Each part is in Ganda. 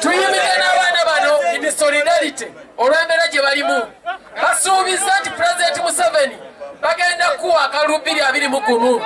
tuyimire n'abaana bano in solidarity olw'embeera gye balimu basuubiza nti pulezidenti museveni bagenda kuwa akalubiri abiri mu gumu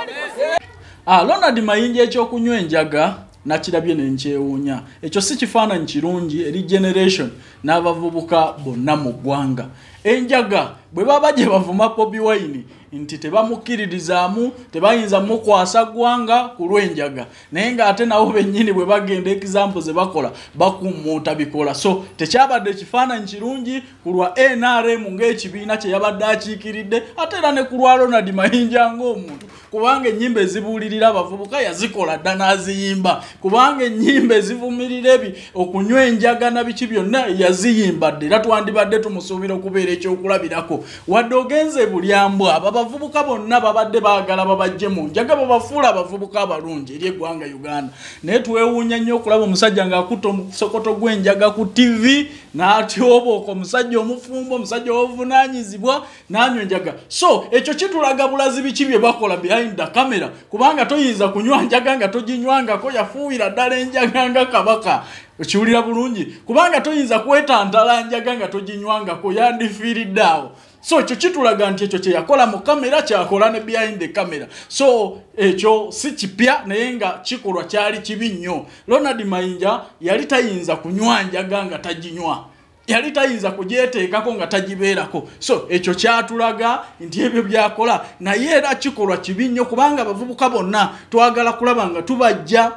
ah, ronald mayinja ekyokunywa enjaga nakirabye ne nkyewuunya ekyo si kifaananyi kirungi eri generation n'abavubuka bonna mu ggwanga enjaga bwe baba gye bavuma bobi wine nti tebamukkiririzaamu tebayinza mukwasa ggwanga ku lw'enjaga naye ng'ate nabo bennyini bwe bagenda ekizampo ze bakola bakummuuta bikola so tekyabadde ekifaananyi kirungi ku lwa nrm ng'ekibiina kye yabadde akiikiridde ate era ne ku lwa ronald mayinja ng'omuntu kubanga ennyimba ezibuulirira abavubuka yazikola dda n'aziyimba kubanga ennyimba ezivumirira ebi okunywa enjaga na biki byonna yaziyimba dda era twandibadde tumusuubira okubeera ekyokulabirako wadde ogenze bulyambwa ababavubuka bonna babadde baagala babajje mu njaga babafuula abavubuka abalungi eri eggwanga uganda naye twewuunya nnyo okulaba omusajja ng'akutta omusokoto gw'enjaga ku tivi n'atyobooko omusajja omufumbo omusajja obuvunaanyizibwa nanywe njaga so ekyo kitulaga bulazi biki bye bakola behind the camera kubanga toyinza kunywa njaga nga toginywangako yafuuyira ddala enjaga nga kabaka okiwulira bulungi kubanga toyinza kwetantala njaga nga toginywangako yandifiiridde awo so ekyo kitulaga nti ekyo kyeyakola mu kamera kyakola ne behind the camera so ekyo si kipya naye nga kikolwa kyali kibi nnyo ronald mayinja yali tayinza kunywa njaga nga taginywa yali tayinza kugyeteekako nga tagibeerako so ekyo kyatulaga nti ebyo byakola naye era kikolwa kibi nnyo kubanga abavubuka bonna twagala kulaba nga tubajja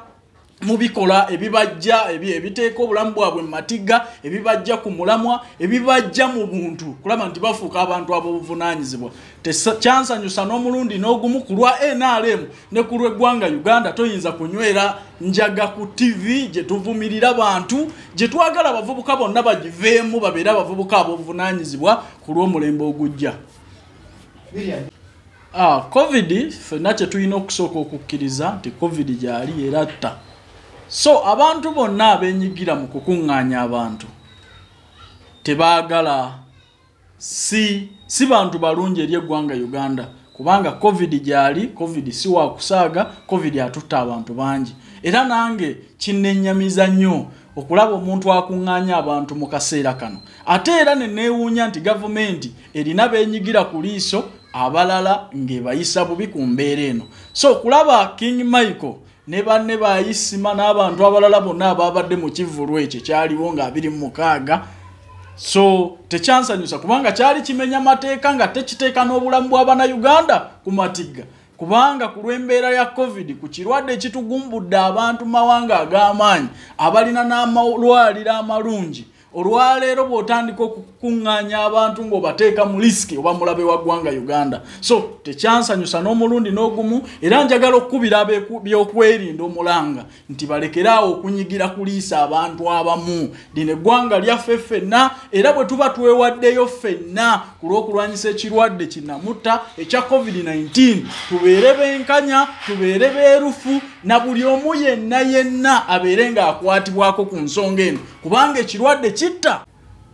mubikola ebibajja ebiteeka obulamu bwabwe mumatiga ebibajja ku mulamwa ebibajja mu buntu kulaba nti bafuuka abantu ab'obuvunanyizibwa kyansanyusa n'omulundi n'ogumu ku lwa nrm ne ku lw'eggwanga uganda toyinza kunywera njaga ku ttivi gye tuvumirira bantu gye twagala abavubuka bonna bagiveemu babeere abavubuka abobuvunaanyizibwa ku lw'omulembe ogujja ah, covid fenna kye tulina okusooka okukkiriza nti covid gyali era tta so abantu bonna abenyigira mu kukuŋŋaanya abantu tebaagala si si bantu balungi eri eggwanga uganda kubanga covid gyali covid si wakusaaga covid atutta abantu bangi era nange kinnenyamiza nnyo okulaba omuntu akuŋŋaanya abantu mu kaseera kano ate era ne neewuunya nti gavumenti erina beenyigira ku liiso abalala ng'ebayisa bubi ku mbeera eno so okulaba king michael ne banne ba isima n'abantu abalala bonna abaabadde mu kivvulu ekyo kyaliwo nga abiri mu mukaaga so tekyansanyusa kubanga kyali kimenya mateeka nga tekiteeka n'obulamu bwa bannayuganda ku matigga kubanga ku lw'embeera ya covid ku kirwadde ekitugumbudde abantu mu mawanga ag'amaanyi abalina n'amalwaliro amalungi olwaleero bw'otandika okukuŋŋaanya abantu ng'obateeka mu lisiki oba mulabe wa ggwanga uganda so tekyansanyusa n'omulundi n'ogumu era njagala okukubira byokwerinda omulanga nti balekere awo okunyigira kuliisa abantu abamu lino eggwanga lyaffe ffenna era bwe tuba twewaddeyo ffenna ku lw'okulwanyisa ekirwadde kinamutta ekya covid-19 tubeere benkanya tubeere beerufu na buli omu yenna yenna abeere ng'akwatibwako ku nsonga eno kubanga ekirwadde kitta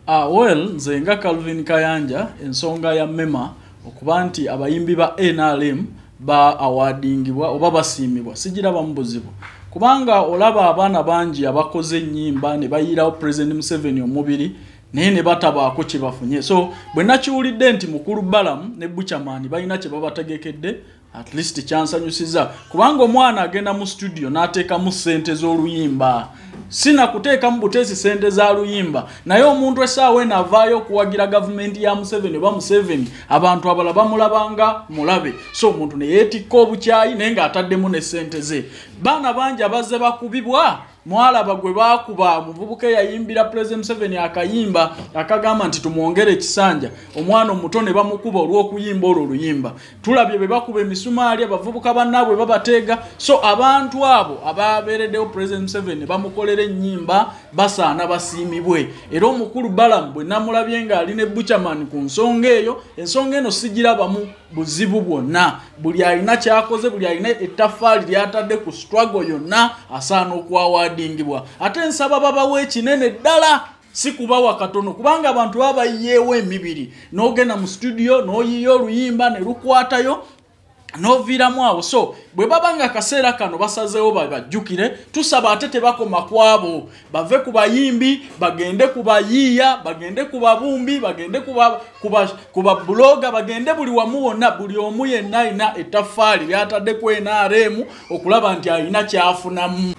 ah, well nze nga calvin kayanja ensonga ya mema okuba nti abayimbi ba nrm ba awadingibwa oba basiimibwa sigirabamu buzibu kubanga olaba abaana bangi abakoze ennyimba ne bayiirawo president museveni omubiri naye ne batabaako kye bafunye so bwe nakiwulidde nti mukulu balamu ne buchamani balina kye babategekedde at least kyansanyusiza kubanga omwana agenda mu studio n'ateekamu ssente z'oluyimba sina kuteekamu buteesi ssente za luyimba naye omuntu essaawa eno avaayo okuwagira gavumenti ya museveni oba museveni abantu abala bamulabanga mulabe so omuntu ne yeetikka obukyayi naye ng'ataddemu ne ssente ze baana bangi abazze bakubibwa mwalaba gwe baakuba omuvubuka eyayimbira pulezidenti museveni akayimba akagamba nti tumwongere ekisanja omwana omuto ne bamukuba olw'okuyimba olwo oluyimba tulabye be bakuba emisumaali abavubuka bannaabwe babateega so abantu abo ababeereddewo pulezidenti museveni bamukolera ennyimba basaana basiimibwe era omukulu balamu bwe namulabye ng'ali ne buchamani ku nsonga eyo ensonga eno sigirabamu buzibu bwonna buli alina kyakoze buli alina ettafaali lyatadde ku struggle yonna asaana okwawaadingibwa ate nsaba babawo ekinene ddala si kubawa katono kubanga abantu baba bayiyeewo emibiri n'ogenda mu situdiyo n'oyiiya oluyimba ne lukwatayo noviiramu awo so bwe baba nga akaseera kano basazeewo babajjukire tusaba ate tebakoma kwabo bave ku bayimbi bagende ku bayiiya bagende ku babumbi bagende ku babuloga bagende buli wamu wonna buli omu yenna alina ettaffaali lyatadde ku nrm okulaba nti alina kyafunamu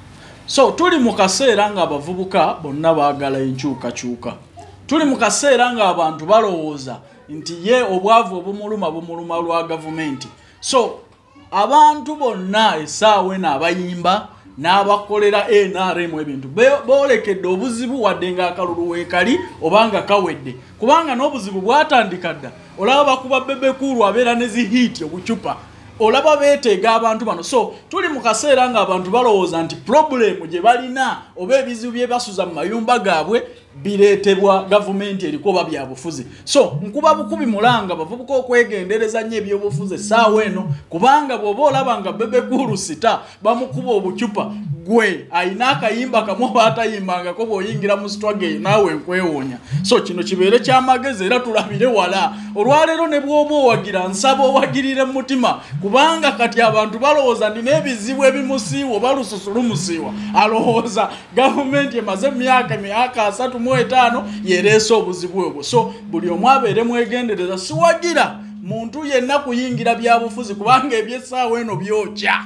so tuli mu kaseera ng'abavubuka bonna baagala enkyukakyuka tuli mu kaseera ng'abantu balowooza nti ye obwavu obumuluma bumuluma lwa gavumenti so abantu bonna esaawa eno abayimba n'abakolera nrm ebintu boolekedde obuzibu wadde ng'akalulu weekali oba nga kawedde kubanga n'obuzibu bwatandika dda olaba bakuba bebekuulu abeera ne zihiiti obucupa olaba beeteega abantu bano so tuli mu kaseera ng'abantu balowooza nti purobulemu gye balina oba ebizibu bye basuza mu mayumba gaabwe bireetebwa gavumenti eriko oba byabufuzi so nkuba bukubi mulanga bavubuka okwegendereza nnyo ebyobufuzi essaawa eno kubanga bw'oba olaba nga bebekuulu sita bamukuba obucupa gwe alina akayimba kamu oba atayimbangako bw'oyingira mu sitwage eyo naawe nkwewuunya so kino kibeere kyamagezi era tulabire wala olwaleero ne bw'oba owagira nsaba owagirire mu mutima kubanga kati abantu balowooza nina ebizibu ebimusiiwa oba lususu lumusiiwa alowooza gavumenti emaze emyaka emyaka asatu mu etaano yereese obuzibu obwo so buli omu abeere mwegendereza siwagira muntu yenna kuyingira byabufuzi kubanga ebyessaawa eno byokya